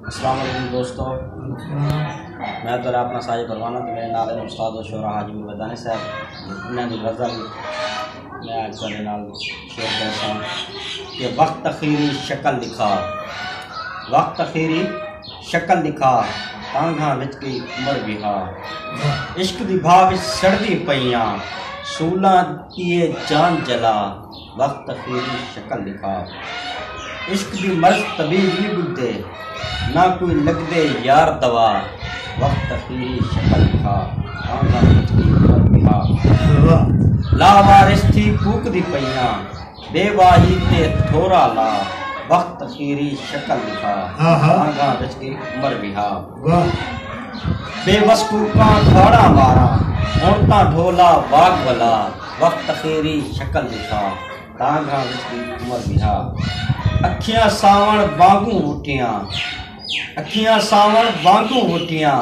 السلام علیکم دوستو میں تو اپنا ساجد پروانہ تو میرے نال استاد و شعرا حاجی مدانی صاحب انہاں دی غزل میں آج کل نال شعر کرتا ہوں کہ وقت تخیری شکل دکھا وقت تخیری شکل دکھا تانگھاں وچ کی عمر بہا عشق دی بھا وچ سڑدی پیاں سولاں کیے جان جلا وقت تخیلی شکل نقاب عشق دی مرض طبیب نی ٻدھدے نہ کوئی لگدے یار دوا وقت تخیلی شکل نقاب کون دا خود کی عمر بہا لا وارث تھی کوک دی پئیاں بے واہی تے تھورا لا وقت تخیلی شکل نقاب کون دا خود کی عمر بہا واہ بے وس کوپاں کھاڑا مارا ہن تاں ڈھولا واگ ولا وقت تخیری شکل دکھا تاں گھاں وچ دی عمر بہا اکھیاں ساون وانگوں وٹیاں اکھیاں ساون وانگوں وٹیاں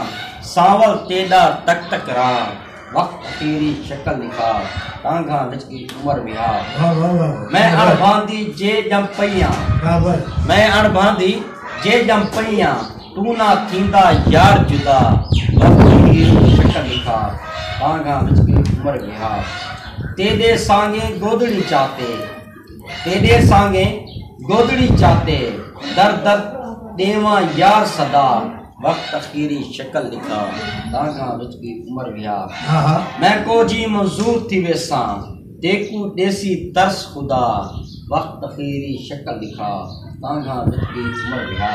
سانول تیڈا تک تک راں وقت تیری شکل نکھار ٹانگھاں وچ دی عمر وہار میں اڑ بھاندی جے جم پئیاں میں اڑ بھاندی جے جم پئیاں تو نہ تھیندا یار جدا وقت تیری شکل نکھار ٹانگھاں وچ دی عمر وہار تیرے سانگے گودڑی چاتے تیݙے سانگے گودڑی چاتے در در ݙیواں یار صدا وقت اخیری شکل ݙکھا دانگھاں وچ وی عمر ویا میں کو جی منظور تھی ویساں تیکوں ݙیسی ترس خدا وقت اخیری شکل ݙکھا دانگھاں وچ وی عمر ویا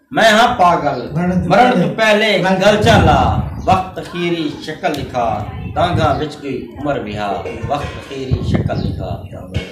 میں ہاں پاگل مرݨ توں پہلے گلچاں لا وخت اخیری شکل ݙکھا دانگھاں وچ کوئی عمر وہا وخت اخیری شکل ݙکھا